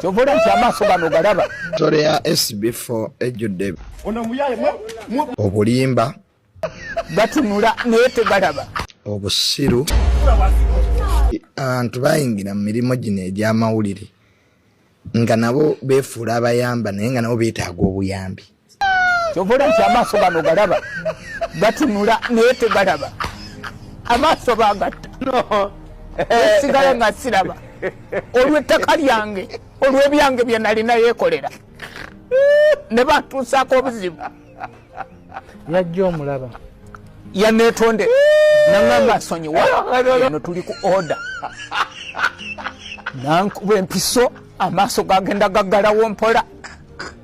kyovola nti amaaso gano galaba tore ya sb4 ejjudde obulimba gatunula naye tegalaba obusiru abantu bayingira mu mirimu gino egy'amawulire nga nabo beefuula abayamba naye nga nabo beetaaga obuyambi kyovola nti amaaso gano galaba gatunula naye tegalaba amaaso bagatta esigala nga siraba olwettaka lyange olwebyange byenalina yekolera ne batuusaako obuzibu yajja omulaba yanetonde nangamba nsonyiwa eno tuli ku oda nankuba empiso amaaso gagenda gaggalawo mpola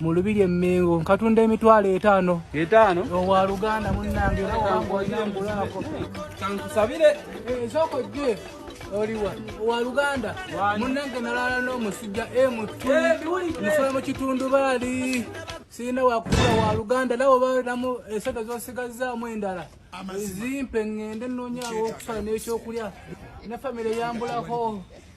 mu lubiri emmengo nkatunda emitwalo etaano etaano owa luganda munnange era wangwayambulaako kankusabire ezooko eh, gye oliwa owa luganda munnange nalaala n'omusujja emutu eh, musula mu kitundubaali sirina wakukula wa luganda nawe balamu esente zosigazzaamu endala zimpe ŋŋende nnoonyawo okusala n'ekyokulya ne famire yambulako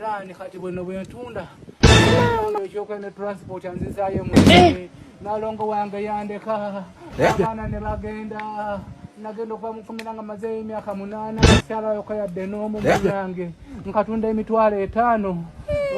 Rani kati bwino bwentunda ekyoka ne transport anzizaayo mu eh! nalongo wange yandeka eh? abaana ne bagenda nagenda okuva mukumira nga mazeeyo emyaka munaana kyalayoka yadde n'omu eh? munange nkatunda emitwalo etaano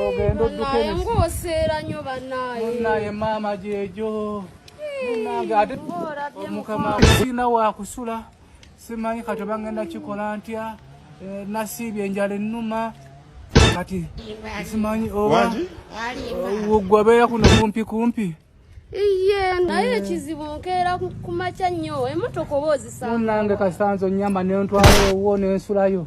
ogenda oddukengoseera nyo banaye maama gyejo munange ate omukama sirina wakusula simanyi kati oba ngenda kikola ntya eh, nasiibye enjala ennuma kati simanyi oba gwe abeera kuno kumpi kumpi iye naye eh. ekizibu nkeera kumakya nnyo emotoka oba ozisange nange kasanze onyamba nentwala owuwo nensulayo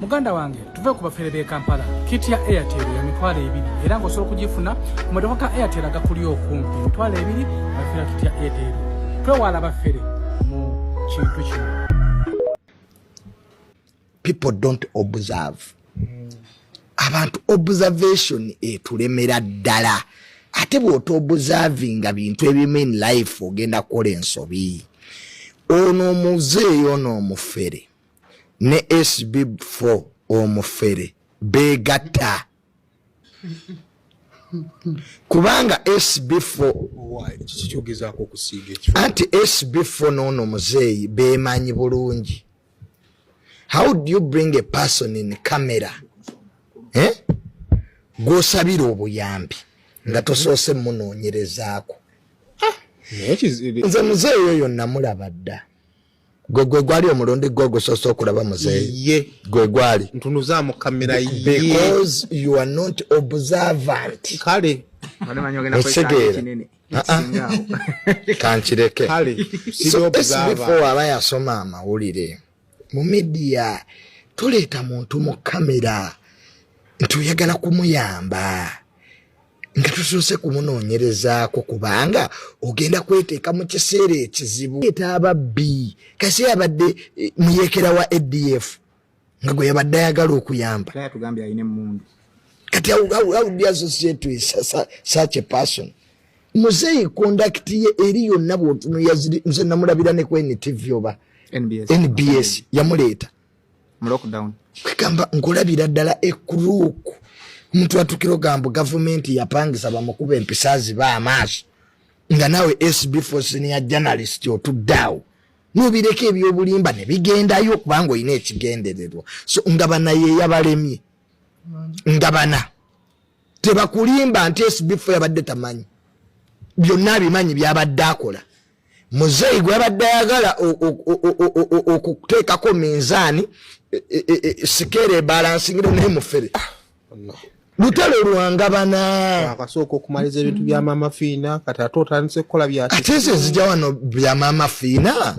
muganda wange tuve ku bafere b'e kampala kiti ya airtel ya mitwalo ebiri era ng'osobola okugifuna ku maduka ga airtel agakuli okumpi emitwalo ebiri abafera kiti ya airtel twewala bafere mu kintu kino people don't observe abantu observation etulemera ddala ate bwota obuservinga bintu ebimu in life ogenda kukola ensobi ono omuzeeyi ono omufere ne sb f omufere begatta kubanga sbfoanti sbfo noono muzeeyi bemanyi bulungi how do you bring a person in camera eh? gwosabira obuyambi nga tosoose munoonyerezaako ah! nze muzeeyi oyo namulaba dda gwe gwe gwali omulundi gwe ogusoose okulaba muzeeyi gwe gwali ntunuzamu kamera because you are not observant kale otegeera kankireke before aba yasoma amawulire mu midiya tuleeta muntu mu kamera nti oyagala kumuyamba nga tusoose kumunoonyerezaako kubanga ogenda kweteeka mu kiseera ekizibu eta ababbi kasi abadde eh, muyekera wa adf nga gwe yabadde ayagala okuyamba kati awudiassociatesach person muzeeyi kondakiti ye eri yonna bwotunuyazze namulabira ne ku ntv oba nbs yamuleeta kwegamba nkulabira ddala ekuruuku omuntu atukira ogambo gavumenti yapangisa bamukuba empisa ziba amaaso nga naawe sb fosiniya journalist otuddaawo nobireka ebyobulimba nebigendayo kubanga olina ekigendererwa so nga bana yeyabalemye nga bana tebakulimba nti esbifo yabadde tamanyi byonna abimanyi byabadde akola muzeeyi gwabadde ayagala okuteekako minzaani e, e, e, sikeera ebalansingira naye mufere lutalo lwangabana akasooka okumaliza ebintu bya maama fiina kati ate otandise kukola byate ezo ezija wano bya maama fiina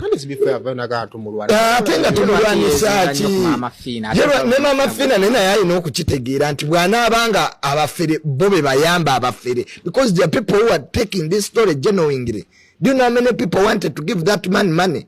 ate nga tumulwanisaaki ne maama fiina naye naye alina okukitegeera nti bwanaaba nga abafere bo be bayamba abafere because the people who are taking this story genuinely do you know how many people wanted to give that man money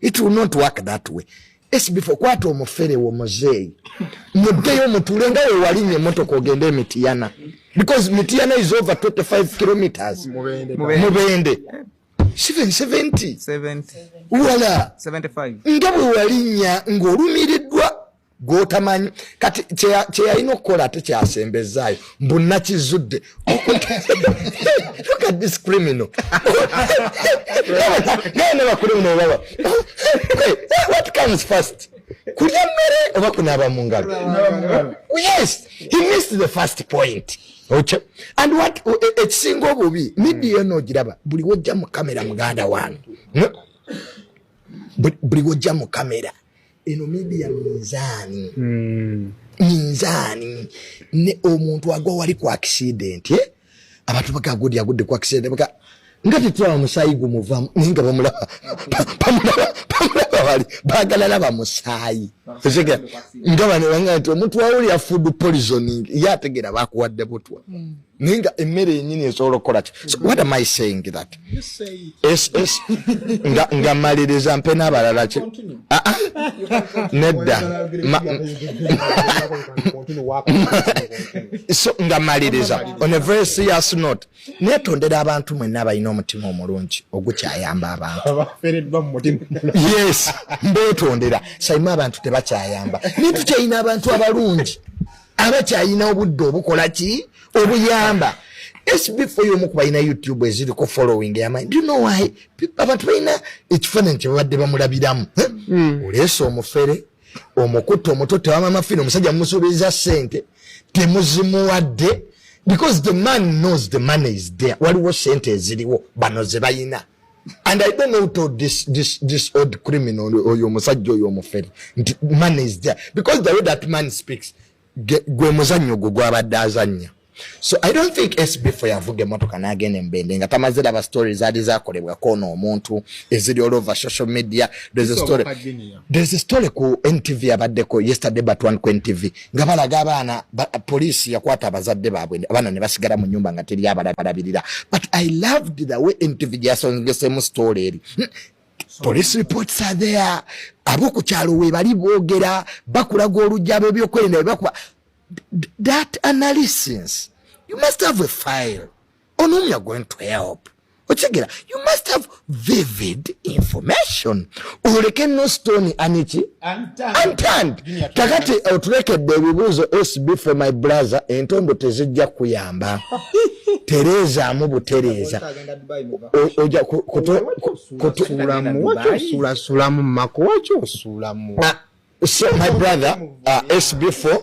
it will not work that way esibifo kwata omufere wo muzeeyi muddeyo mutuule nga wewalinye emotoka ogende emitiyana because mitiyana is over 25 kilometers mubende siven 70 wala nga bwewalinya ng'olumiriddwa gwotamanyi kati kyeyalina okukola ate kyasembezaayo mbu nakizudde kulya mmere oba kunaaba mu ngalo yes he missed the first point oky and wat e, e, ekisinga obubi midiyo eno ogiraba buli wojja mu kamera muganda wange buli wojja mu kamera eno media minzaani mm. minzaani ne omuntu agwa wali ku accident eh? abantu bagagudi agudde ku accident baka nga tetulaba musaayi gumuvamu naye nga bamulaba bamulaba bali bagala laba musaayi osegera nga bano banga nti omuntu wawuli ya food poisoning ye ategera bakuwadde butwa mm. naye nga emmere yenyini esobola okukola ki what am i saying that nga maliriza mpe n'abalala ki ah, ah. nedda so nga maliriza on a very serious note netondera abantu mwenna abalina omutima omulungi ogukyayamba abantu yes mbetondera sayima abantu tebakyayamba naye tukyayina abantu abalungi abakyalina obudde obukola ki obuyamba sbfo yomu kubalina youtube eziriko following yamanyi do you know why abantu balina ekifaananyi kyebabadde bamulabiramu hmm. oleesa omufere omukutte omuto tewamamafina omusajja mumusuubiriza sente temuzimuwadde because the man knows the money is there waliwo sente eziriwo bano zebayina and i don't know who told this, this, this old criminal oyo omusajja oyo omufere nti money is there because the way that man speaks gwe muzannyo gwo gwabadde azannya so i don't think sbfo yavuga emotoka nagenda embende nga tamaze laba story zaali zakolebwa kona omuntu eziri all over social media there's a story, there's a story ku ntv abaddeko yesterday but one ku ntv nga balaga abaana ba, poliisi yakwata abazadde baabwe abaana ne basigala mu nyumba nga teri abalabirira but i loved the way ntv gyasongesemu story eri hmm. police reports are there aboku kyalo we bali bogera bakulaga olujjabo ebyokwerinda bwe bakuba that analysis you must have a file onomi are going to help okigera you must have vivid information oleke no stone aniki untand kakati otulekedde ebibuuzo sb for my brother entondo tezijja kuyamba tereezaamu butereeza oja kutusulasulamu mako waki osuulamu ah, my brother uh, ah, sb for